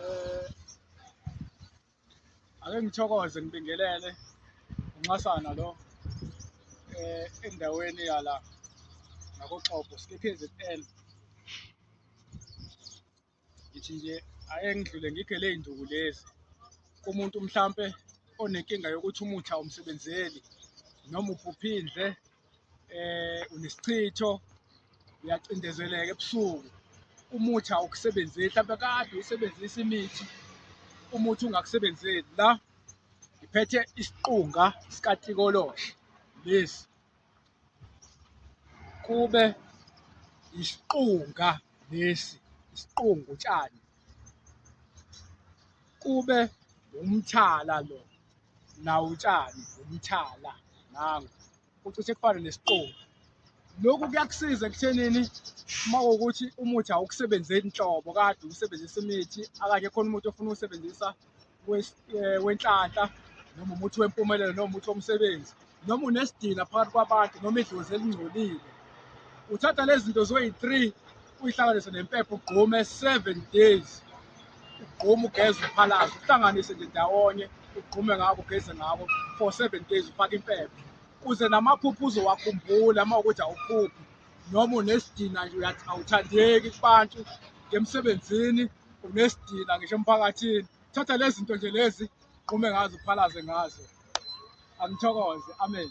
Eh, ake ngithokoze ngibingelele unxasana lo eh, endaweni yala ngakoxobo sikephezetel ngithi nje ake ngidlule ngikhe ley'nduku lezi kumuntu mhlampe onenkinga yokuthi umuthi awumsebenzeli noma uphuphindle eh unesichitho uyacindezeleka ebusuku umuthi awukusebenzeli mhlawumbe kade usebenzisa imithi umuthi ungakusebenzeli la ngiphethe isiqunga sikatikoloshe lesi kube isiqunga lesi isiqunga utshani kube umthala lo nawo utshani umthala nangu ucishe kufana nesiqobo lokhu kuyakusiza ekuthenini uma kuwukuthi umuthi awukusebenzeli nhlobo kade usebenzisa imithi akanye khona umuthi ofuna uwusebenzisa eh, wenhlanhla noma umuthi wempumelelo noma umuthi womsebenzi noma unesidina phakathi kwabantu noma idlozi elingcolile uthatha lezi zinto zoyi-three uyihlanganise nempepho ugqume seven days ugqume ugeze uphalaze uhlanganise nje ndawonye ugqume ngako ugeze ngako for seven days ufake impepho kuze namaphupho uzowakhumbula uma ukuthi awuphuphi noma unesidina nje uyathi awuthandeki kubantu emsebenzini unesidina ngisho emphakathini thatha lezi zinto nje lezi uqhume ngazo uphalaze ngazo angithokoze amen